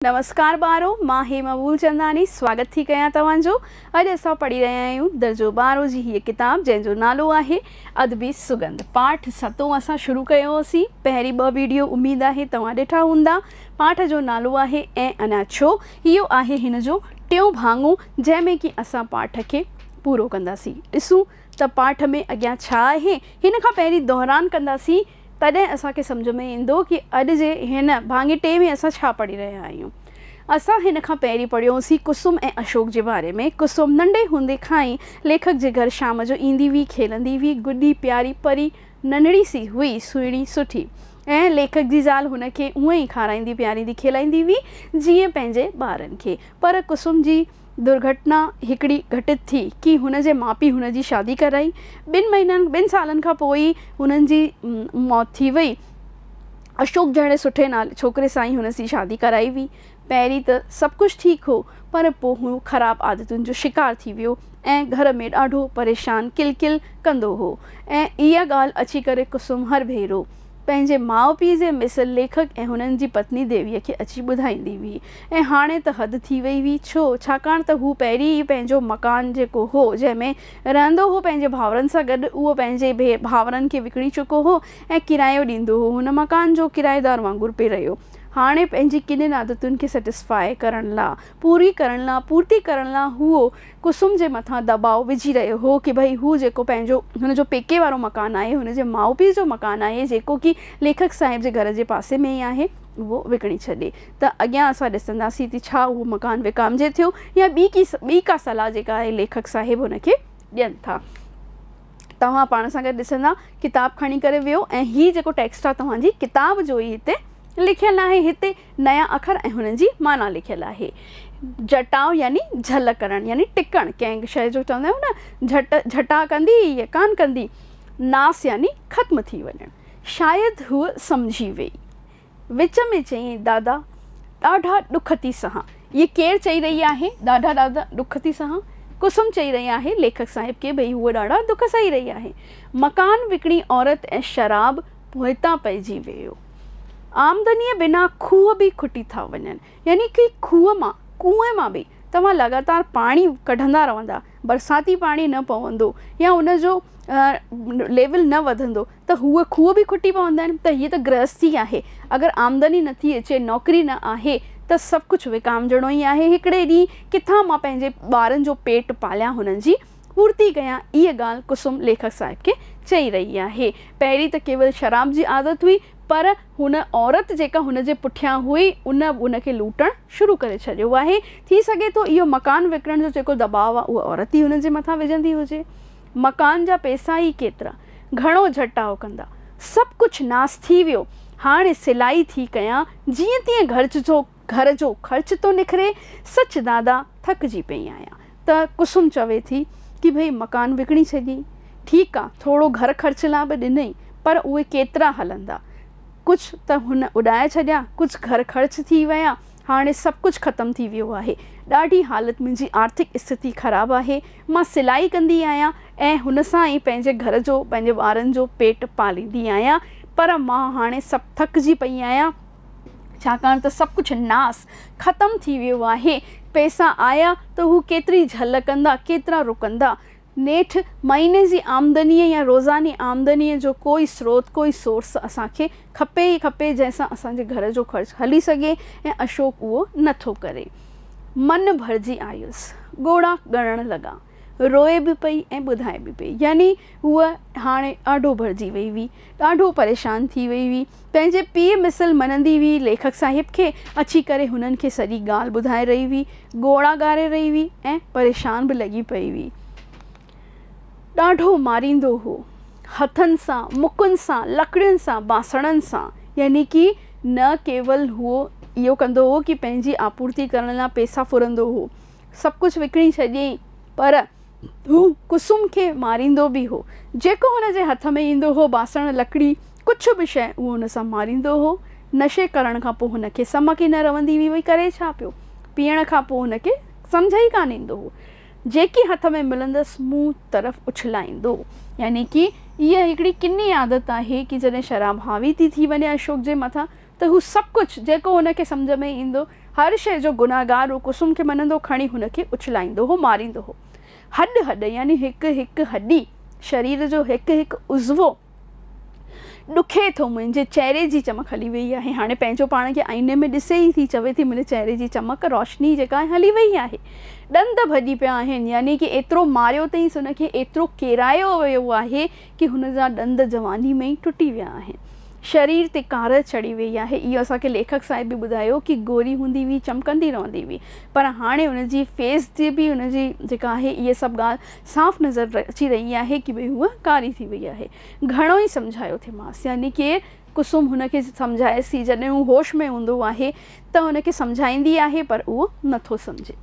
نمسڪار ٻارو مان هيما ٻولچنداني سواگت ٿي ڪيان توهان جو اڄ اسان پڙهي رهيا آهيون درجو ٻارهون جي هيء ڪتاب جنهن جو نالو آهي ادبي سگنڌ پاٺ ستون اسان شروع ڪيو هوسين پهرين ٻه ويڊيو اميد آهي توهان ڏٺا هوندا پاٺ جو نالو آهي ۽ انا ڇو اهو آهي هن جو ٽيون ڀاڱو جنهن ۾ ڪي اسان پاٺ کي پورو ڪنداسين ڏسون ته پاٺ ۾ اڳيان ڇا آهي هن کان پهرين دهران ڪنداسين تڏهن اسان کي سمجهه ۾ ايندو ڪي اڄ جي هن ڀاڱٽي ۾ اسان ڇا پڙهي رهيا آهيون. اسان هن کان پهرين پڙهيو سين ڪسم ۽ اشوڪ جي باري ۾. ڪسم ننڍي هوندي کان ئي ليکڪ جي گهر شام جو ايندي هئي، کيلندي هئي، گڏي پياري پري ننڍڙي سي هئي، سهڻي سٺي ۽ ليکڪ جي زال هن کي اونئين کارائيندي پياريندي کيلائيندي هئي جيئن پنهنجي ٻارن کي. پر ڪسم جي. درگهٽنا هڪڙي گهٽت ٿي ڪي هن جي ماء پيء هن جي شادي ڪرائي ٻن مهينن ٻن سالن کان پوء ئي هنن جي موت ٿي وئي اشوڪ جهڙي سٺي نالي ڇوڪري سان ئي هن سي شادي ڪرائي هئي پهرين ته سڀ ڪجهه ٺيڪ هو پر پوء هو خراب عادتن جو شڪار ٿي ويو ۽ گهر ۾ ڏاڍو پريشان ڪل ڪل ڪندو هو ۽ اها ڳالهه اچي ڪري ڪسم هر ڀيرو پنهنجي ماء پيء جي مثل ليکڪ ۽ هنن جي پتني ديويء کي اچي ٻڌائيندي هئي ۽ هاڻي ته حد ٿي وئي هئي، ڇو؟ ڇاڪاڻ ته هو پهرين ئي پنهنجو مڪان جيڪو هو، جنهن ۾ رهندو هو پنهنجي ڀائرن سان گڏ، اهو پنهنجي ڀائرن کي وڪڻي چڪو هو ۽ ڪرايو ڏيندو هو، هن مڪان جو ڪرائيدار وانگر پئي رهيو. هاڻي پنهنجي ڪنين عادتن کي سئٽسفاء ڪرڻ لا پوري ڪرڻ لا پورتي ڪرڻ لا هو ڪسم جي مٿان دٻاء وجهي رهيو هو ڪي ڀئي هو جيڪو پنهنجو هن جو پيڪي وارو مڪان آهي هن جي ماء پيء جو مڪان آهي جيڪو ڪي ليکڪ صاحب جي گهر جي پاسي ۾ ئي آهي اهو وڪڻي ڇڏي ته اڳيان اسان ڏسنداسين ته ڇا اهو مڪان وڪامجي ٿيو يا ٻي ڪي ٻي ڪا صلاح جيڪا اهي ليکڪ صاحب هن کي ڏين ٿا توهان پاڻ سان گڏ ڏسندا ڪتاب کڻي ڪري ويهو ۽ هي جيڪو ٽيڪسٽ آهي توهان جي ڪتاب جو ئي هتي لکيل آهي هتي نيا اکر ۽ هنن جي معنيٰ لکيل آهي. جٽاء يعني جهل ڪرڻ يعني ٽڪڻ، ڪنهن شيء جو چوندا آهيون نه جهٽ جهٽاء ڪندي يا ڪانه ڪندي، ناس يعني ختم ٿي وڃڻ. شايد هوء سمجهي ويئي. وچ ۾ چيائين، دادا، ڏاڍا ڏک ٿي سهان. هيء ڪير چئي رهي آهي، ڏاڍا ڏاڍا ڏک ٿي سهان؟ قسم چئي رهي آهي ليکڪ صاحب کي، ڀئي هوء ڏاڍا ڏک سهي رهي آهي. مڪان وڪڻي عورت ۽ شراب پوئتان پئجي ويو. آمدنيء بنا کوهه به کٽي ٿا وڃن. يعني ڪي کوهه مان، ڪوئن مان به توهان لڳاتار پاڻي ڪڍندا رهندا، برساتي پاڻي نه پوندو يا ان جو ليول نه وڌندو ته هو کوهه به کٽي پوندا آهن ته هيء ته گرهستي آهي. اگر آمدني نٿي اچي، نوڪري نه آهي ته سڀ ڪجهه وڪامجڻو ئي آهي. هڪڙي ڏينهن ڪٿان مان پنهنجي ٻارن جو پيٽ پاليان هنن جي پورتي ڪيان هيء ڳالهه ڪسوم ليکڪ صاحب کي چئي رهي آهي. پهرين ته ڪيول شراب جي عادت هئي پر هن عورت جيڪا هن جي پٺيان هئي ان به هن کي لوٽڻ شروع ڪري ڇڏيو آهي. ٿي سگهي ٿو اهو مڪان وڪڻڻ جو جيڪو دٻاء آهي اهو عورت ئي هن جي مٿان وجهندي هجي. مڪان جا پئسا ئي ڪيترا. گهڻو جهٽاء ڪندا. سڀ ڪجهه ناس ٿي ويو. هاڻي سلائي ٿي ڪيان جيئن تيئن گهرج جو گهر جو خرچ ٿو نکري، سچ دادا ٿڪجي پئي آهيان ته ڪسم چوي ٿي ڪي ڀئي مڪان وڪڻي ڇڏيئي، ٺيڪ آ ٿورو گهر خرچ لا به ڏنئي پر اهي ڪيترا هلندا، ڪجهه ته هن اڏائي ڇڏيا، ڪجهه گهر خرچ ٿي ويا، هاڻي سڀ ڪجهه ختم ٿي ويو آهي، ڏاڍي حالت منهنجي آرٿڪ استٿتي خراب آهي، مان سلائي ڪندي آهيان ۽ هن سان ئي پنهنجي گهر جو پنهنجي ٻارن جو پيٽ پاليندي آهيان پر مان هاڻي سڀ ٿڪجي پئي آهيان، ڇاڪاڻ ته سڀ ڪجهه ناس، ختم، ٿي ويو آهي. پئسا آيا ته هو ڪيتري جهل ڪندا، ڪيترا رڪندا. نيٺ مهيني جي آمدنيء يا روزاني آمدنيء جو ڪوئي سروت، ڪوئي سورس اسان کي کپي ئي کپي جنهن سان اسان جي گهر جو خرچ هلي سگهي ۽ اشوڪ اهو نه ٿو ڪري. من ڀرجي آيس. ڳوڙها ڳڻڻ لڳا. روئي به پئي ۽ ٻڌائي به پئي. يعني هوء هاڻي آڍو ڀرجي وئي هئي. ڏاڍو پريشان ٿي وئي هئي. پنهنجي پيء مثل مڃندي هئي. ليکڪ صاحب کي اچي ڪري هنن کي سڄي ڳالهه ٻڌائي رهي هئي. ڳوڙها ڳاري رهي هئي ۽ پريشان به لڳي پئي هئي. ڏاڍو ماريندو هو. هٿن سان، مڪن سان، لڪڙين سان، بانسڻن سان. يعني ڪي نه ڪيول هو اهو ڪندو هو ڪي پنهنجي آپورتي ڪرڻ لاء پيسا ڦرندو هو. سڀ ڪجهه وڪڻي ڇڏيئين پر هو ڪسم کي ماريندو به هو. جيڪو هن جي هٿ ۾ ايندو هو، باسڻ، لڪڙي، ڪڇ به شيء، اهو هن سان ماريندو هو. نشي ڪرڻ کان پوء هن کي سمڪ ئي نه رهندي هئي، وئي ڪري ڇا پيو؟ پيئڻ کان پوء هن کي سمجهه ئي ڪانه ايندو هو. جيڪي هٿ ۾ ملندس، مون طرف اڇلائيندو. يعني ڪي اها هڪڙي ڪني عادت آهي ڪي جڏهن شراب حاوي ٿي ٿي وڃي اشوڪ جي مٿان ته هو سڀ ڪجهه جيڪو هن کي سمجهه ۾ ايندو، هر شيء جو گنهگار هو قسم کي مڃندو، کڻي هن کي اڇلائيندو هو، ماريندو هو. هڏ هڏ يعني هڪ هڪ هڏي، شرير جو هڪ هڪ عضوو ڏکي ٿو. منهنجي چهري جي چمڪ هلي ويئي آهي. هاڻي پنهنجو پاڻ کي آئيني ۾ ڏسي ئي ٿي چوي ٿي منهنجي چهري جي چمڪ، روشني جيڪا آهي هلي ويئي آهي. ڏند ڀڄي پيا آهن يعني ڪي ايترو ماريو اٿئينس، هن کي ايترو ڪيرايو ويو آهي، ڪي هن جا ڏند جواني ۾ ئي ٽٽي ويا آهن. شرير تي ڪارئ چڙهي ويئي آهي. اهو اسان کي ليکڪ صاحب به ٻڌايو ڪي گوري هوندي هئي چمڪندي رهندي هئي پر هاڻي ان جي فيس تي به ان جي جيڪا آهي اهي سڀ ڳالهه صاف نظر اچي رهي آهي ڪي ڀئي هوء ڪاري ٿي وئي آهي. گهڻو ئي سمجهايو ٿيمانس يعني ڪي ڪسوم هن کي سمجهائيس ٿي. جڏهن هو هوش ۾ هوندو آهي ته هن کي سمجهائيندي آهي پر اهو نٿو سمجهي.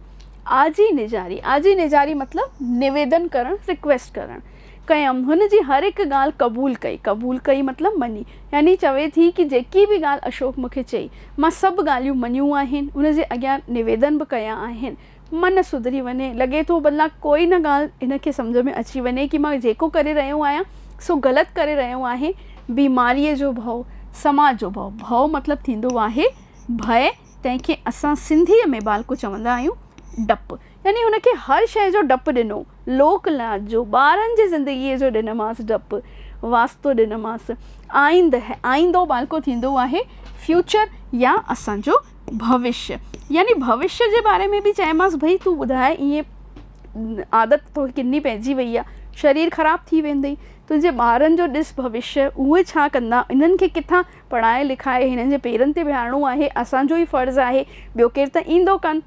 آء جي نجاري، آء جي نجاري مطلب نويدن ڪرڻ، ريڪويسٽ ڪرڻ، ڪيم. هن جي هر هڪ ڳالهه قبول ڪئي، قبول ڪئي مطلب مڃي. يعني چوي ٿي ڪي جيڪي به ڳالهه اشوڪ مون کي چئي، مان سڀ ڳالهيون مڃيون آهن، ان جي اڳيان نويدن به ڪيا آهن. من سڌري وڃي. لڳي ٿو ڀلا ڪوئي نه ڳالهه هن کي سمجهه ۾ اچي وڃي ڪي مان جيڪو ڪري رهيو آهيان سو غلط ڪري رهيو آهين. بيماريء جو ڀؤ، سماج جو ڀؤ. ڀؤ مطلب ٿيندو آهي ڀئي، تنهن کي اسان سنڌيء ۾ ٻالڪو چوندا آهيون. ڊپ يعني هن کي هر شيء جو ڊپ ڏنو. لوڪ لاج جو، ٻارن جي زندگيء جو ڏنمانس ڊپ. واسطو ڏنمانس. آئينده، آئيندو ٻالڪو ٿيندو آهي، فيوچر يا اسان جو. ڀوشيء يعني ڀوشيء جي باري ۾ به چيمانس ڀئي تون ٻڌاء ايئن عادت توکي ڪني پئجي وئي آ، شرير خراب ٿي ويندئي، تنهنجي ٻارن جو ڏس ڀوشيء، اهي ڇا ڪندا، انهن کي ڪٿان پڙهائي لکائي هنن جي پيرن تي بيهارڻو آهي، اسان جو ئي فرض آهي، ٻيو ڪير ته ايندو ڪانه.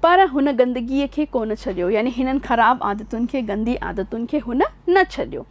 پر هن گندگيء کي ڪونه ڇڏيو يعني هنن خراب عادتن کي، گندي عادتن کي هن نه ڇڏيو.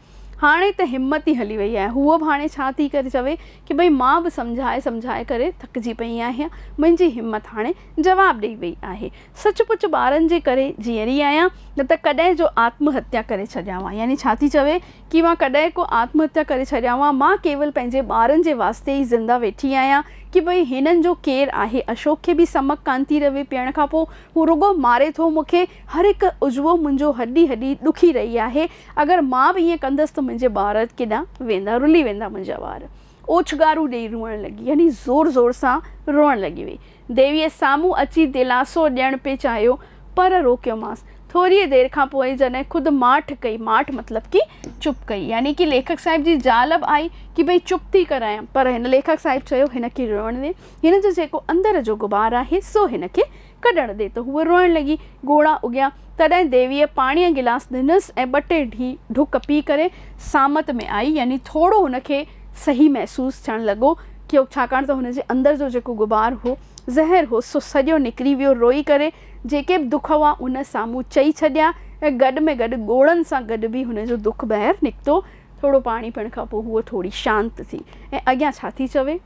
هاڻي ته همت ئي هلي وئي آهي. هوء به هاڻي ڇا ٿي ڪري چوي ڪي ڀئي مان به سمجهائي سمجهائي ڪري ٿڪجي پئي آهيان. منهنجي همت هاڻي جواب ڏئي وئي آهي. سچ پچ ٻارن جي ڪري جيئري آهيان نه ته ڪڏهن جو آتم هتيا ڪري ڇڏيانهوان. يعني ڇا ٿي چوي ڪي مان ڪڏهن ڪو آتم هتيا ڪري ڇڏيانهوان. مان ڪيول پنهنجي ٻارن جي واسطي ئي زنده ويٺي آهيان ڪي ڀئي هنن جو ڪير آهي. اشوڪ کي به سمڪ ڪانه ٿي رهي پيئڻ کان پوء هو رڳو ماري ٿو مون کي. هر هڪ عضوو منهنجو هڏي هڏي ڏکي رهي آهي. اگر مان به ائين ڪندس ته منهنجي ٻار ڪيڏانهن ويندا، رلي ويندا منهنجا وار. اوڇنگارون ڏيئي روئڻ لڳي، يعني زور زور سان روئڻ لڳي وئي. ديويء سامهون اچي دلاسو ڏيڻ پئي چاهيو، پر روڪيومانس. ٿوريء دير کان پوء جڏهن خود ماٺ ڪئي، ماٺ مطلب ڪي چپ ڪئي، يعني ڪي ليکڪ صاحب جي زال به آئي ڪي ڀئي چپ ٿي ڪرايان، پر هن ليکڪ صاحب چيو، هن کي روئڻ ڏي، هن جو جيڪو اندر جو غبار آهي، سو هن کي ڪڍڻ ڏي ته هوء روئڻ لڳي. ڳوڙها اگهيا. تڏهن ديويء پاڻيء جو گلاس ڏنس ۽ ٻه ٽي ڍڪ پي ڪري سامت ۾ آئي. يعني ٿورو هن کي صحيح محسوس ٿيڻ لڳو. ڇاڪاڻ ته هن جي اندر جو جيڪو غبار هو، زهر هو، سو سڄو نڪري ويو. روئي ڪري جيڪي به دک هئا، ان سامهون چئي ڇڏيا ۽ گڏ ۾ گڏ ڳوڙهن سان گڏ به هن جو دک ٻاهر نڪتو. ٿورو پاڻي پيئڻ کان پوء هوء ٿوري شانت ٿي. ۽ اڳيان ڇا ٿي چوي.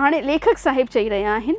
هاڻي ليکڪ صاحب چئي رهيا آهن.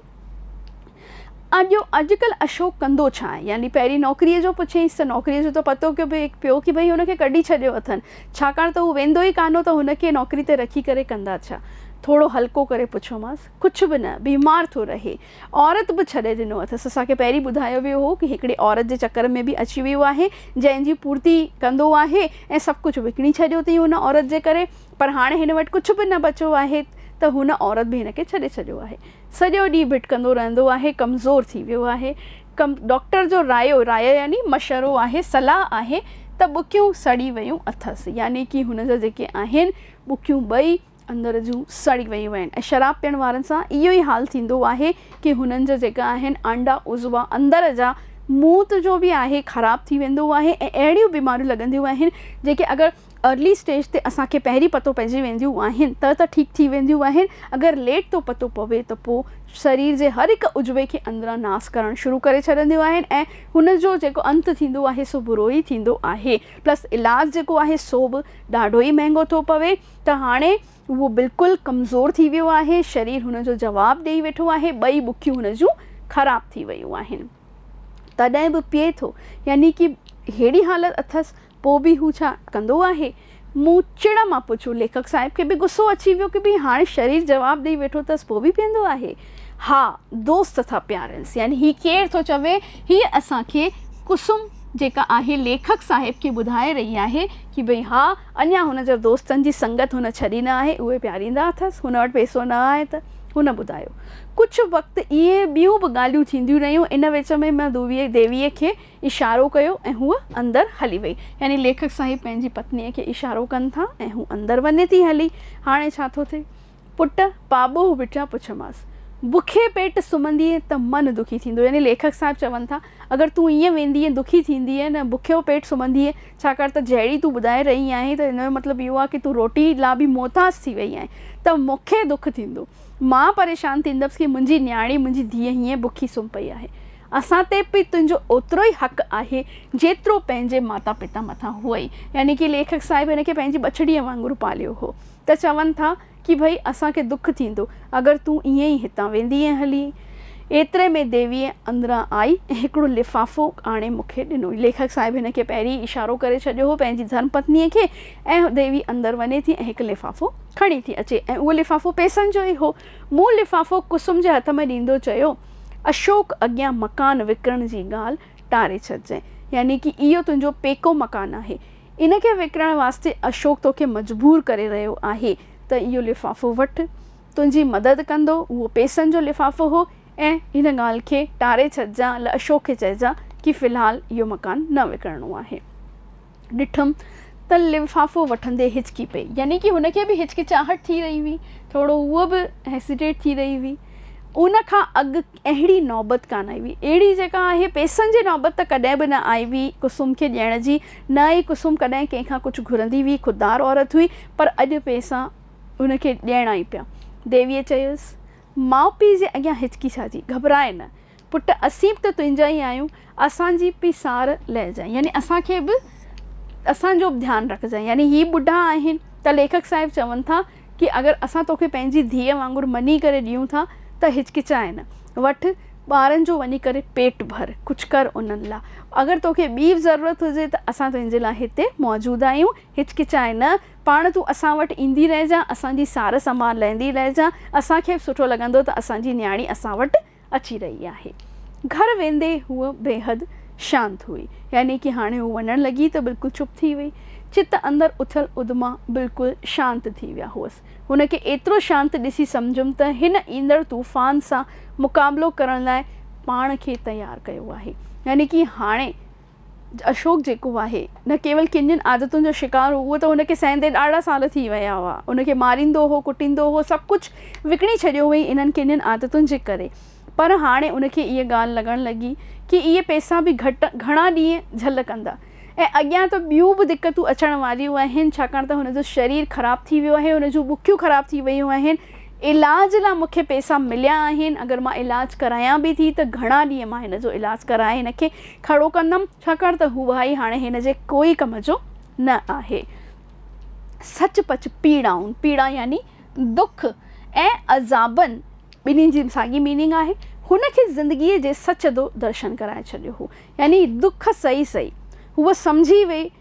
اڄ اڄڪلهه اشوڪ ڪندو ڇا آهي؟ يعني پهرين نوڪريء جو پڇيائينس ته نوڪريء جو ته پتو ڪيو به پيو ڪي ڀئي هن کي ڪڍي ڇڏيو اٿن، ڇاڪاڻ ته هو ويندو ئي ڪانه هو ته هن کي نوڪري تي رکي ڪري ڪندا ڇا؟ ٿورو هلڪو ڪري پڇيومانس، ڪڇ به نه، بيمار ٿو رهي. عورت به ڇڏي ڏنو اٿس، اسان کي پهرين ٻڌايو ويو هو ڪي هڪڙي عورت جي چڪر ۾ به اچي ويو آهي، جنهن جي پورتي ڪندو آهي ۽ سڀ ڪڇ وڪڻي ڇڏيو اٿئين ان عورت جي ڪري، پر هاڻي هن وٽ ڪڇ به نه بچو آهي ته هن عورت به هن کي ڇڏي ڇڏيو آهي. سڄو ڏينهن ڀٽڪندو رهندو آهي، ڪمزور ٿي ويو آهي. ڊاڪٽر جو رايو، رايو يعني مشورو آهي، صلاح آهي ته ٻڪيون سڙي ويون اٿس، يعني ڪي هن جا جيڪي آهن ٻڪيون ٻئي اندر جون سڙي ويون آهن ۽ شراب پيئڻ وارن سان اهو ئي حال ٿيندو آهي ڪي هنن جا جيڪا آهن آنڊا عضوا اندر جا موت جو به آهي خراب ٿي ويندو آهي ۽ اهڙيون بيماريون لڳنديون آهن جيڪي اگر ارلي اسٽيج تي اسان کي پهرين پتو پئجي وينديون آهن ته ته ٺيڪ ٿي وينديون آهن اگر ليٽ تون پتو پوي ته پو سرير جي هر هڪ عضوي کي اندران ناس ڪرڻ شروع ڪري ڇڏنديون آهن ۽ هن جو جيڪو انت ٿيندو آهي سو برو ئي ٿيندو آهي پلس علاج جيڪو آهي سو به ڏاڍو ئي مهنگو ٿو پوي ته هاڻي هو بلڪل ڪمزور ٿي ويو آهي شرير هن جو جواب ڏئي ويٺو آهي ٻئي ٻکيون هن جون خراب ٿي ويون آهن. تڏهن به پيئي ٿو، يعني ڪي ههڙي حالت اٿس، پوء به هو ڇا ڪندو آهي؟ مون چڙ مان پڇيو. ليکڪ صاحب کي به غصو اچي ويو ڪي ڀي هاڻي شرير جواب ڏئي ويٺو اٿس، پوء به پيئندو آهي؟ ها، دوست ٿا پيارينس، يعني هي ڪير ٿو چوي؟ هيء اسان کي ڪسوم جيڪا آهي، ليکڪ صاحب کي ٻڌائي رهي آهي ڪي ڀي ها، اڃا هن جا دوستن جي سنگت هن ڇڏي نه آهي، اهي پياريندا اٿس، هن وٽ پيسو نه آهي ته؟ هن ٻڌايو. ڪجهه وقت ائين ٻيون به ڳالهيون ٿينديون رهيون. ان وچ ۾ مان ديويء کي اشارو ڪيو ۽ هوء اندر هلي وئي. يعني ليکڪ صاحب پنهنجي پتنيء کي اشارو ڪن ٿا ۽ هوء اندر وڃي ٿي هلي. هاڻي ڇا ٿو ٿئي؟ پٽ پاٻوهه وٽيان پڇيومانس. بکي پيٽ سمهندينء ته من دکي ٿيندو. يعني ليکڪ صاحب چون ٿا، اگر تون ائين ويندينء، دکي ٿيندينء نه بکيو پيٽ سمهندينء، ڇاڪاڻ ته جهڙي تون ٻڌائي رهي آهين ته ان جو مطلب اهو آهي ته تون روٽي لا به محتاج ٿي وئي آهين، ته مون کي دک ٿيندو. مان پريشان ٿيندس ڪي منهنجي نياڻي، منهنجي ڌيء هيئن بکي سمهه پئي آهي. اسان تي به تنهنجو اوترو ئي حق آهي، جيترو پنهنجي ماتا پتا مٿان هئي. يعني ڪي ليکڪ صاحب هن کي پنهنجي ٻچڙيء وانگر پاليو هو. ته چون ٿا ڪي ڀئي اسان کي دک ٿيندو، اگر تون ائين ئي هتان ويندينء هلي. ايتري ۾ ديويء اندران آئي ۽ هڪڙو لفافو آڻي مون کي ڏنو. ليکڪ صاحب هن کي پهرين ئي اشارو ڪري ڇڏيو هو پنهنجي ڌرم پتنيء کي، ۽ ديوي اندر وڃي ٿي ۽ هڪ لفافو کڻي ٿي اچي ۽ اهو لفافو پئسن جو ئي هو. مون لفافو ڪسم جي هٿ ۾ ڏيندو چيو، اشوڪ اڳيان مڪان وڪڻڻ جي ڳالهه ٽاري ڇڏجانء. يعني ڪي اهو تنهنجو پيڪو مڪان آهي. ان کي وڪڻڻ واسطي اشوڪ توکي مجبور ڪري رهيو آهي ته اهو لفافو وٺ. تنهنجي مدد ڪندو. اهو پئسن جو لفافو هو ۽ هن ڳالهه کي ٽاري ڇڏجانء ۽ اشوڪ کي چئجانء ڪي في الحال اهو مڪان نه وڪڻڻو آهي. ڏٺم ته لفافو وٺندي هچڪي پئي يعني ڪي هن کي به هچڪچاهٽ ٿي رهي هئي ٿورو هوء به هيسيٽيٽ ٿي رهي هئي ان کان اڳ اهڙي نوبت ڪانه آئي هئي اهڙي جيڪا آهي پئسن جي نوبت ته ڪڏهن به نه آئي هئي ڪسوم کي ڏيڻ جي نه ئي ڪسوم ڪڏهن ڪنهن کان ڪجهه گهرندي هئي خوددار عورت هئي پر اڄ پئسا هن کي ڏيڻا ئي پيا ديويء چيس ماء پيء جي اڳيان هچڪي ڇا جي گهٻرائي نه پٽ اسين به ته تنهنجا ئي آهيون، اسان جي به سار لهجانء يعني اسان کي به اسان جو به ڌيان رکجانء يعني هي ٻڍا آهن ته ليکڪ صاحب چون ٿا ڪي اگر اسان توکي پنهنجي ڌيء وانگر مڃي ڪري ڏيون ٿا ته هچڪچاء نه، وٺ ٻارن جو وڃي ڪري پيٽ ڀر، ڪجهه ڪر انهن لاء، اگر توکي ٻي به ضرورت هجي ته اسان تنهنجي لاء هتي موجود آهيون، هچڪچاء نه، پاڻ تون اسان وٽ ايندي رهجانء، اسان جي سار سنڀال لهندي رهجانء، اسان کي به سٺو لڳندو ته اسان جي نياڻي اسان وٽ. اچي رهي آهي. گهر ويندي هوء بيحد شانت هئي، يعني ڪي هاڻي هوء وڃڻ لڳي ته بلڪل چپ ٿي وئي. چت اندر اٿل اڌما بلڪل شانت ٿي ويا هئس. هن کي ايترو شانت ڏسي سمجهيم ته هن ايندڙ طوفان سان مقابلو ڪرڻ لاء پاڻ کي تيار ڪيو آهي. يعني ڪي هاڻي اشوڪ جيڪو آهي، نه ڪيول ڪنين عادتن جو شڪار هو، اهو ته هن کي سهندي ڏاڍا سال ٿي ويا هئا. هن کي ماريندو هو، ڪٽيندو هو، سڀ ڪجهه وڪڻي ڇڏيو هئائين انهن ڪنين عادتن جي ڪري. پر هاڻي ان کي اها ڳالهه لڳڻ لڳي ڪي اهي پئسا به گهڻا ڏينهن جهل ڪندا ۽ اڳيان ته ٻيون به دقتون اچڻ واريون آهن، ڇاڪاڻ ته هن جو شرير خراب ٿي ويو آهي، هن جون ٻڪيون خراب ٿي ويون آهن. علاج لا مون کي پيسا مليا آهن، اگر مان علاج ڪرايان به ٿي ته گهڻا ڏينهن مان هن جو علاج ڪرائي هن کي کڙو ڪندم، ڇاڪاڻ ته هو ڀائي هاڻي هن جي ڪوئي ڪم جو نه آهي. سچ پچ پيڙائون، پيڙا يعني دک ۽ عذابن ٻنهي جي ساڳي ميننگ آهي، هن کي زندگيء جي سچ دو درشن ڪرائي ڇڏيو هو. يعني دک سهي سهي هوء سمجهي وئي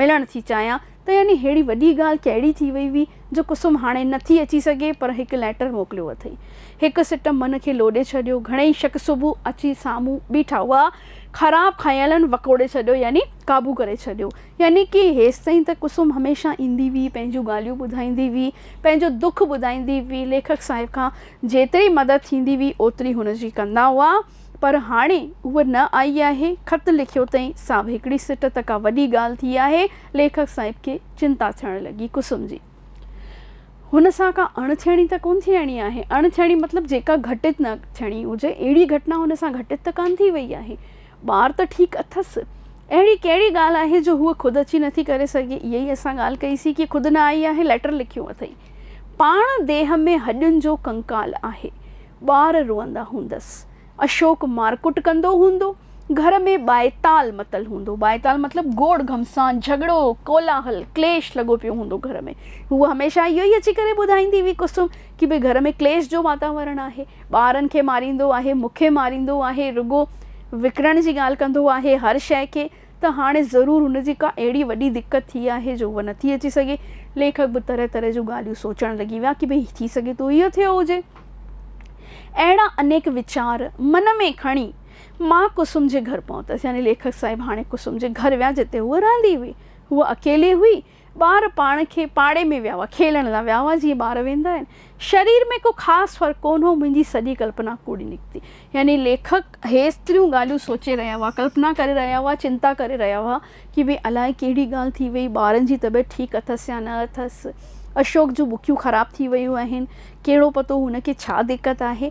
ملڻ ٿي چاهيان ته يعني ههڙي وڏي ڳالهه ڪهڙي ٿي وئي هئي جو ڪسم هاڻي نه ٿي اچي سگهي پر هڪ ليٽر موڪليو اٿئي. هڪ سٽ من کي لوڏي ڇڏيو. گهڻيئي شڪ صبح اچي سامهون بيٺا هئا. خراب خيالن وڪوڙي ڇڏيو يعني قابو ڪري ڇڏيو. يعني ڪي هيستائين ته ڪسم هميشه ايندي هئي پنهنجون ڳالهيون ٻڌائيندي هئي پنهنجو دک ٻڌائيندي هئي ليکڪ صاحب کان جيتري مدد ٿيندي هئي اوتري هن جي ڪندا هئا. پر هاڻي هوء نه آئي آهي. خط لکيو تئين سان به هڪڙي سٽ ته ڪا وڏي ڳالهه ٿي آهي. ليکڪ صاحب کي چنتا ٿيڻ لڳي. ڪسم جي هن سان ڪا اڻ ٿيڻي ته ڪونه ٿيڻي آهي. اڻ ٿيڻي مطلب جيڪا گهٽت نه ٿيڻي هجي اهڙي گهٽنا هن سان گهٽت ته ڪانه ٿي وئي آهي. ٻار ته ٺيڪ اٿس. اهڙي ڪهڙي ڳالهه آهي جو هوء خود اچي نٿي ڪري سگهي. اها ئي اسان ڳالهه ڪئي سين ڪي خود نه آئي آهي. ليٽر لکيو اٿئي. پاڻ ديهه ۾ هڏين جو ڪنڪال آهي. ٻار روئندا هوندس. اشوڪ مارڪٽ ڪندو هوندو. گهر ۾ ٻائيتال متل هوندو. ٻائيتال مطلب گوڙ گهمسان، جهڳڙو، ڪولاهل، ڪليش لڳو پيو هوندو گهر ۾. هوء هميشه اهو ئي اچي ڪري ٻڌائيندي هئي ڪسم ڪي ڀي گهر ۾ ڪليش جو واتاورڻ آهي. ٻارن کي ماريندو آهي، مون کي ماريندو آهي، رڳو وڪڻڻ جي ڳالهه ڪندو آهي هر شيء کي. ته هاڻي ضرور هن جي ڪا اهڙي وڏي دقت ٿي آهي جو هوء نٿي اچي سگهي. ليکڪ به طرح طرح جون ڳالهيون سوچڻ لڳي ويا ڪي ڀئي ٿي سگهي ٿو اهو ٿيو هجي. اهڙا انيڪ ويچار من ۾ کڻي مان ڪسم جي گهر پهتس يعني ليکڪ صاحب هاڻي ڪسم جي گهر ويا جتي هوء رهندي هئي. هوء اڪيلي هئي ٻار پاڻ کي پاڙي ۾ ويا هئا، کيلڻ لاء ويا هئا، جيئن ٻار ويندا آهن. شرير ۾ ڪو خاص فرق ڪونه هو، منهنجي سڄي ڪلپنا ڪوڙي نڪتي. يعني ليکڪ هيستريون ڳالهيون سوچي رهيا هئا، ڪلپنا ڪري رهيا هئا، چنتا ڪري رهيا هئا ڪي ڀي الاء ڪهڙي ڳالهه ٿي وئي، ٻارن جي طبيعت ٺيڪ اٿس يا نه اٿس، اشوڪ جون ٻڪيون خراب ٿي ويون آهن، ڪهڙو پتو هن کي ڇا دقت آهي،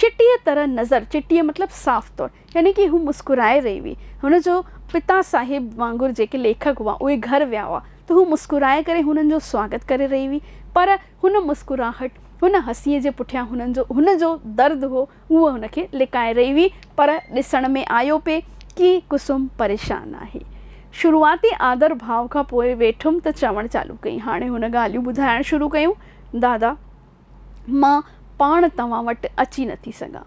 چٽيء طرح نظر، چٽيء مطلب صاف طور، يعني ڪي هو مسڪرائي رهي هئي. هن جو پتا صاحب وانگر جيڪي ليکڪ هئا، اهي گهر ويا هئا، ته هو مسڪرائي ڪري هنن جو سواگت ڪري رهي هئي، پر هن مسڪراهٽ، هن هسيء جي پٺيان هنن جو هن جو درد هو، هوء هن کي لڪائي رهي هئي، پر ڏسڻ ۾ آيو پئي ڪي ڪسم پريشان آهي. شروعاتي آڌر ڀاء کان پوء ويٺم ته چوڻ چالو ڪئي، هاڻي هن ڳالهيون ٻڌائڻ شروع ڪيون، دادا! مان پاڻ توهان وٽ اچي نٿي سگهان.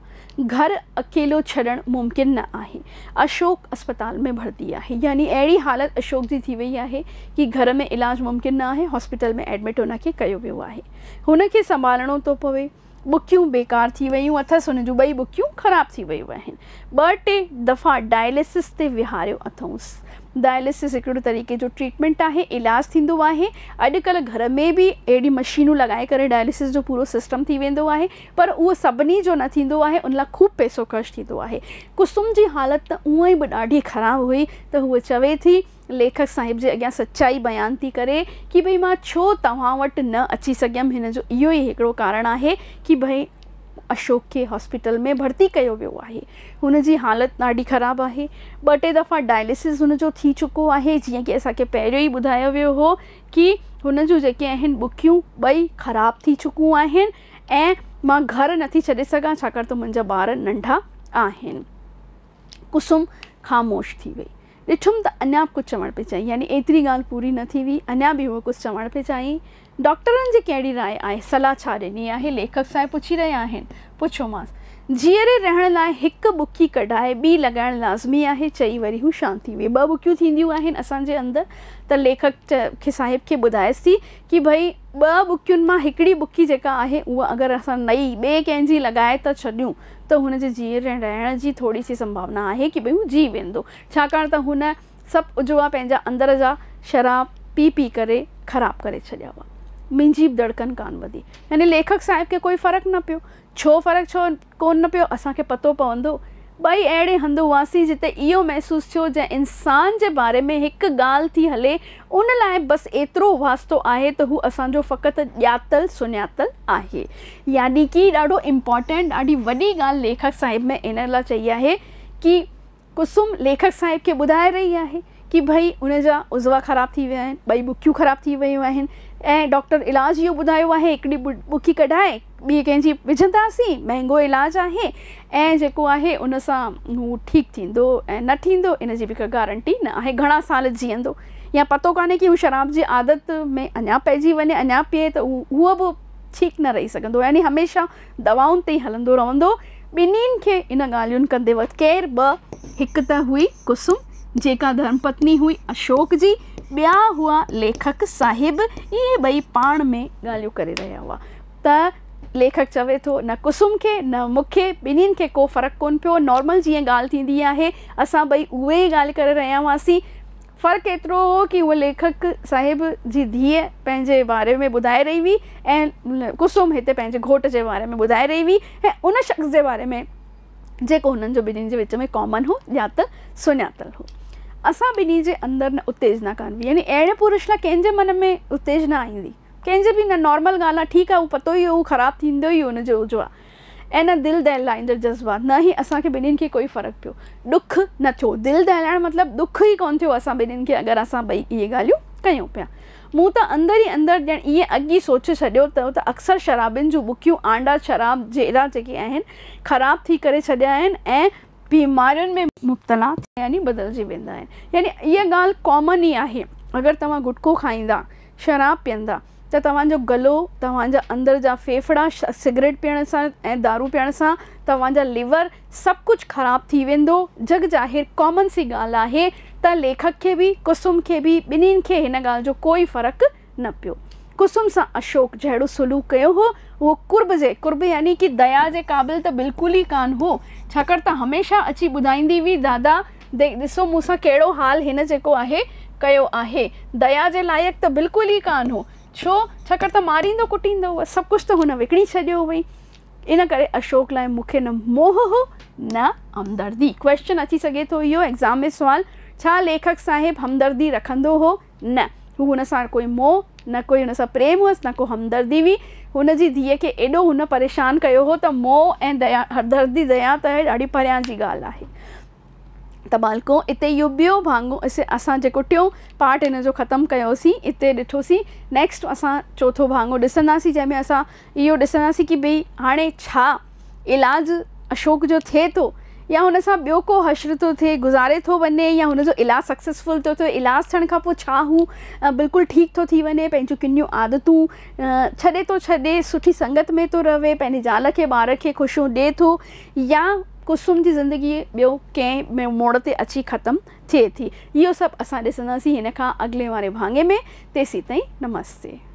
گهر اڪيلو ڇڏڻ ممڪن نه آهي. اشوڪ اسپتال ۾ ڀرتي آهي. يعني اهڙي حالت اشوڪ جي ٿي وئي آهي ڪي گهر ۾ علاج ممڪن نه آهي. هاسپيٽل ۾ ايڊمٽ هن کي ڪيو ويو آهي. هن کي سنڀالڻو ٿو پوي. ٻڪيون بيڪار ٿي ويون اٿس. هن جون ٻئي ٻڪيون خراب ٿي ويون آهن. ٻه ٽي دفعا ڊائلسس تي ويهاريو اٿئونس. ڊائلسس هڪ اهڙو طريقي جو ٽريٽمينٽ آهي، علاج ٿيندو آهي. اڄڪلهه گهر ۾ به اهڙيون مشينون لڳائي ڪري ڊائلسس جو پورو سسٽم ٿي ويندو آهي پر اهو سڀني جو نه ٿيندو آهي ان لاء خوب پئسو خرچ ٿيندو آهي. ڪسوم جي حالت ته اونئن به ڏاڍي خراب هئي ته هوء چوي ٿي ليکڪ صاحب جي اڳيان سچائي بيان ٿي ڪري ڪي ڀئي مان ڇو توهان وٽ نه اچي سگهيم هن جو اهو ئي هڪڙو ڪارڻ آهي ڪي ڀئي اشوڪ کي هاسپيٽل ۾ ڀرتي ڪيو ويو آهي هن جي حالت ڏاڍي خراب آهي ٻه ٽي دفعا ڊائلسز هن جو ٿي چڪو آهي جيئن ڪي اسان کي پهريون ئي ٻڌايو ويو هو ڪي هن جون جيڪي آهن ٻڪيون ٻئي خراب ٿي چڪون آهن ۽ مان گهر نٿي ڇڏي سگهان ڇاڪاڻ ته منهنجا ٻار ننڍا آهن ڪسم خاموش ٿي وئي ڏٺم ته اڃا به ڪجهه چوڻ پئي چاهين، يعني ايتري ڳالهه پوري نه ٿي هئي، اڃا به هوء ڪجهه چوڻ پئي چاهين. ڊاڪٽرن جي ڪهڙي راء آهي، صلاح ڇا ڏني آهي، ليکڪ صاحب پڇي رهيا آهن. پڇيومانس، جيئري رهڻ لاء هڪ ٻڪي ڪڍائي ٻي لڳائڻ لازمي آهي، چئي وري هو شانت ٿي ويئي. ٻه ٻڪيون ٿينديون آهن اسان جي اندر ته ليکڪ کي صاحب کي ٻڌايس ٿي ڪي ڀئي ٻه ٻڪين مان هڪڙي ٻڪي جيڪا آهي اها اگر اسان نئي ٻئي ڪنهن جي لڳائي ٿا ڇڏيون ته هن جي جيئري ۽ رهڻ جي ٿوري سي سنڀاونا آهي ڪي ڀئي هو جي ويندو، ڇاڪاڻ ته هن سڀ عضوا پنهنجا اندر جا شراب پي پي ڪري خراب ڪري ڇڏيا هئا. منهنجي به دڙڪن ڪانه وڌي. يعني ليکڪ صاحب کي ڪوئي فرق نه پيو. ڇو فرق ڇو ڪون نه پيو اسان کي پتو پوندو. ٻئي اهڙي هنڌ هئاسين جتي اهو محسوس ٿيو جئن انسان جي باري ۾ هڪ ڳالهه ٿي هلي ان لاء بس ايترو واسطو آهي ته هو اسان جو فقط ڄاتل سڃاتل آهي. يعني ڪي ڏاڍو امپارٽينٽ ڏاڍي وڏي ڳالهه ليکڪ صاحب ۾ ان لاء چئي آهي ڪي قسم ليکڪ صاحب کي ٻڌائي رهي آهي ڪي ڀئي ان جا عضوا خراب ٿي ويا آهن ٻئي ٻڪيون خراب ٿي ويون آهن ۽ ڊاڪٽر علاج اهو ٻڌايو آهي هڪڙي ٻڪي ڪڍائي ٻي ڪنهن جي وجهنداسين مهنگو علاج آهي ۽ جيڪو آهي ان سان هو ٺيڪ ٿيندو ۽ نه ٺيندو ان جي به ڪا گارنٽي نه آهي گهڻا سال جيئندو يا پتو ڪانهي ڪي هو شراب جي عادت ۾ اڃا پئجي وڃي اڃا پيئي ته هو به ٺيڪ نه رهي سگهندو يعني هميشه دوائن تي ئي هلندو رهندو ٻنين کي ان ڳالهين ڪندي وقت ڪير ٻه هڪ ته هئي ڪسم جيڪا ڌرم پتني هئي اشوڪ جي ٻيا هئا ليکڪ صاحب اهي ٻئي پاڻ ۾ ڳالهيون ڪري رهيا هئا ته ليکڪ چوي ٿو، نه ڪسوم کي نه مون کي ٻنهين کي ڪو فرق ڪونه پيو، نارمل جيئن ڳالهه ٿيندي آهي، اسان ٻئي اهي ئي ڳالهه ڪري رهيا هئاسين. فرق ايترو هو ڪي هوء ليکڪ صاحب جي ڌيء پنهنجي باري ۾ ٻڌائي رهي هئي ۽ ڪسوم هتي پنهنجي گهوٽ جي باري ۾ ٻڌائي رهي هئي ۽ ان شخص جي باري ۾ جيڪو هنن جو ٻنهين جي وچ ۾ ڪامن هو، ڄاتل سڃاتل هو. اسان ٻنهين جي اندر نه اتيجنا ڪانه هئي يعني اهڙي پرش لاء ڪنهن جي من ۾ اتيجنا ايندي؟ ڪنهن جي به نه نارمل ڳالهه آهي ٺيڪ آهي اهو پتو ئي هو هو خراب ٿيندو ئي ان جو اهو آهي ۽ نه دل دهلائيندڙ جذبات نه هي اسان کي ٻنهين کي ڪوئي فرق پيو ڏک نه ٿيو دل دهلائڻ مطلب ڏک ئي ڪونه ٿيو اسان ٻنهين کي اگر اسان ٻئي اهي ڳالهيون ڪيون پيا مون ته اندر ئي اندر ڄڻ ائين اڳ ئي سوچي ڇڏيو ته ته اڪثر شرابين جون ٻڪيون آنڊا شراب جهيڙا جيڪي آهن خراب ٿي ڪري ڇڏيا آهن ۽ بيمارين ۾ مبتلا ٿي يعني بدلجي ويندا آهن يعني اها ڳالهه ڪامن ئي آهي اگر توهان گٽڪو کائيندا شراب پيئندا ته توهان جو گلو، توهان جا اندر جا ڦيڦڙا سگريٽ پيئڻ سان ۽ دارو پيئڻ سان توهان جا ليور سڀ ڪجهه خراب ٿي ويندو. جڳ ظاهر ڪامن سي ڳالهه آهي ته ليکڪ کي به ڪسم کي به ٻنهي کي هن ڳالهه جو ڪوئي فرق نه پيو. ڪسم سان اشوڪ جهڙو سلوڪ ڪيو هو اهو قرب جي، قرب يعني ڪي ديا جي قابل ته بلڪل ئي ڪانه هو ڇاڪاڻ ته هميشه اچي ٻڌائيندي هئي دادا ڏسو مون سان ڪهڙو حال هن جيڪو آهي ڪيو آهي. ديا جي لائق ته بلڪل ئي ڪانه هو. ڇو؟ ڇاڪاڻ ته ماريندو ڪٽيندو هو. سڀ ڪجهه ته هن وڪڻي ڇڏيو هئي. ان ڪري اشوڪ لاء مون کي نه موهه هو نه همدردي. ڪويشچن اچي سگهي ٿو اهو ايگزام ۾ سوال، ڇا ليکڪ صاحب همدردي رکندو هو؟ نه هو هن سان ڪوئي موهه، نه ڪوئي هن سان پريم هئس، نه ڪو همدردي هئي. هن جي ڌيء کي ايڏو هن پريشان ڪيو هو ته موهه ۽ ديا، هردردي ديا ته ڏاڍي پريان جي ڳالهه آهي. ته ٻالڪو اتي اهو ٻيو ڀاڱو اسان جيڪو ٽيون پارٽ هن جو ختم ڪيوسين اتي ڏٺوسين نيڪسٽ اسان چوٿون ڀاڱو ڏسنداسين جنهن ۾ اسان اهو ڏسنداسين ڪي ڀئي هاڻي ڇا علاج اشوڪ جو ٿئي ٿو يا هن سان ٻيو ڪو حشر ٿو ٿئي گذاري ٿو وڃي يا هن جو علاج سڪسيسفل ٿو ٿئي علاج ٿيڻ کان پوء ڇا هو بلڪل ٺيڪ ٿو ٿي وڃي پنهنجون ڪنيون عادتون ڇڏي ٿو ڇڏي سٺي سنگت ۾ ٿو رهي پنهنجي زال کي ٻار کي خوشيون ڏئي ٿو يا قسم جي زندگي ٻيو ڪنهن ٻئي موڙ تي اچي ختم ٿئي ٿي اهو سڀ اسان ڏسنداسين هن کان اڳلي واري ڀاڱي ۾ تيسين تائين نمستي.